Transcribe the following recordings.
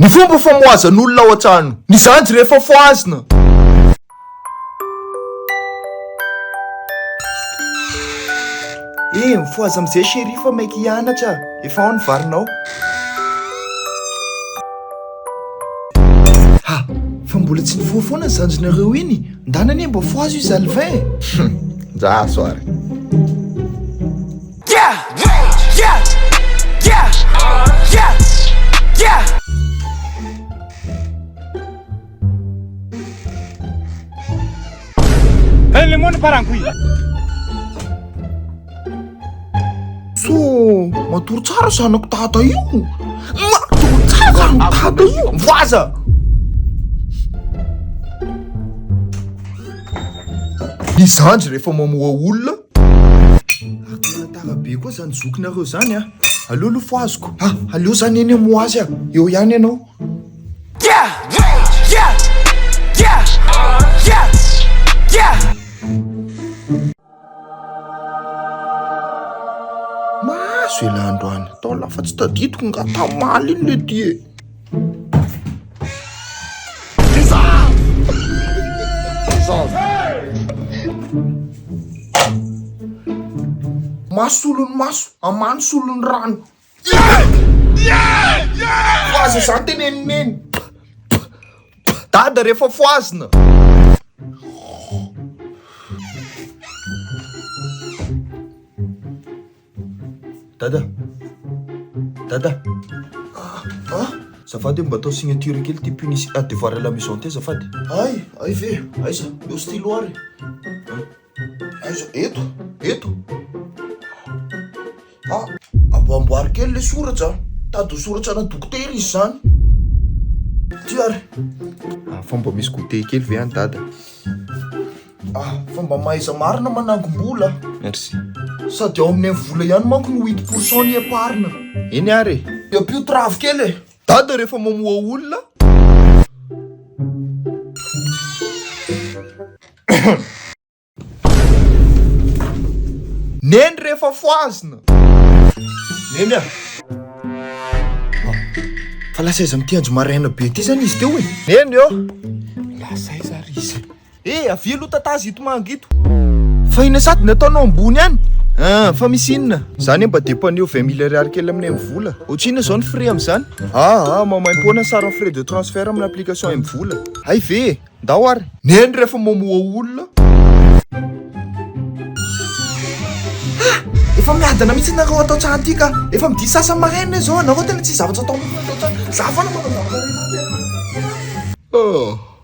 Ny fomba famohazan'olona ao an-trano. Ny zandry rehefa fohazina. Eh, mifohaza amin'izay chérie fa maika hianatra, efa ao ny varinao. Ha, fa mbola tsy nifoha foana ny zandrinareo iny, ndana anie mba fohazo i Zalvin eh! Humm, ndraso ary. Matory tsara zanako dada io Matory tsara zanako dada io Voaza Ny zandry rehefa mamoha olona Ary tena tara be koa izany zokinareo izany an! Aleo aloha fohaziko. Ah! Aleo za neny amin'ny ho azy an! Eo ihany ianao. Mahazo elah androany. Tao lafa tsy tadidiko nga tamaly iny lety e! Maso solon'ny maso, amano solon'ny rano. Fohaza izany tenen'i Neny. Dada rehefa fohazina. Dada! Dada! Ah! Ah! Zafady mba atao signature kely ty punition ah, devoir à la maison ty azafady. Ay! Ay ve! Aiza? Eo stylo ary! Aiza? Eto! Eto! Ah! Amboamboary kely le soratra! Tady ho soratra ana dokotera izy zany! Ty ary! Ah, fa mba misy goûter kely ve any dada? Ah, fa mba mahaiza marina manangom-bola. Merci. Sady ao amin'ny vola ihany manko no huit pour cent ny épargne. Eny ary e. Dia ampio travo kely e. Dada rehefa mamoha olona. Neny rehefa fohazina. Neny a. Fa lasa aiza amin'ity andro maraina be ity izany izy teo e? Neny ô. Lasa aiza ary izy? Eh avia aloha tatazy ito manga ito. Fa inona sady ny ataonao ambony any ah fa misy inona. Za anie mba depaneo vingt mille ariary kely aminay mivola. Ohatrinona zao ny frais amzany. Ah ah mamaimpoana ny saran'ny frais de transfert amina application mvola. Hay ve e! Ndao ary. Neny rehefa mamoha olona. Ah! Efa miadana mihitsy nareo atao tsara ty ka! Efa midia sasany maraina izao, nareo tena tsisy zavatra atao mihitsy nareo zany! Za foana manao zavatra rehetra tena. Ah!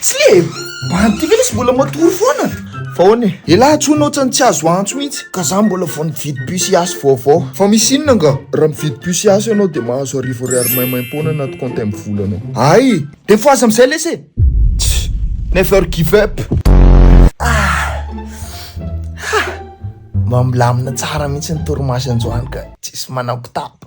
Tsy le mban ty ve le sy mbola matory foana? Fa ahoana e? Elah tson ohatran'ny tsy azo antso mihitsy ka za mbola vao nividy puce yasy vaovao. Fa misy inona nga? Raha mividy puce yasy ianao dia mahazo arivo ariary maimaimpoana anaty compte am volanao. Ay! Dia fo aza amin'izay lesy e! Tch! Never give up! Ah! Ha! Mba milamina tsara mihitsy ny torimaso androany ka tsisy manakotaba.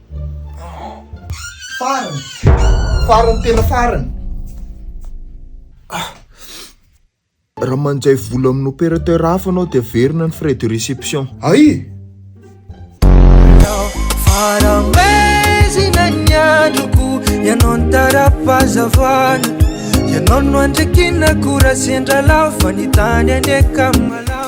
Farany! Farany tena farany! Raha manjay vola amin'ny opérateur hafa ianao dia averina ny frais de réception. Ay! Faramezina ny androko Ianao ny tara-pahazavana Ianao no andrikinako Raha sendra lava ny tany anie ka malama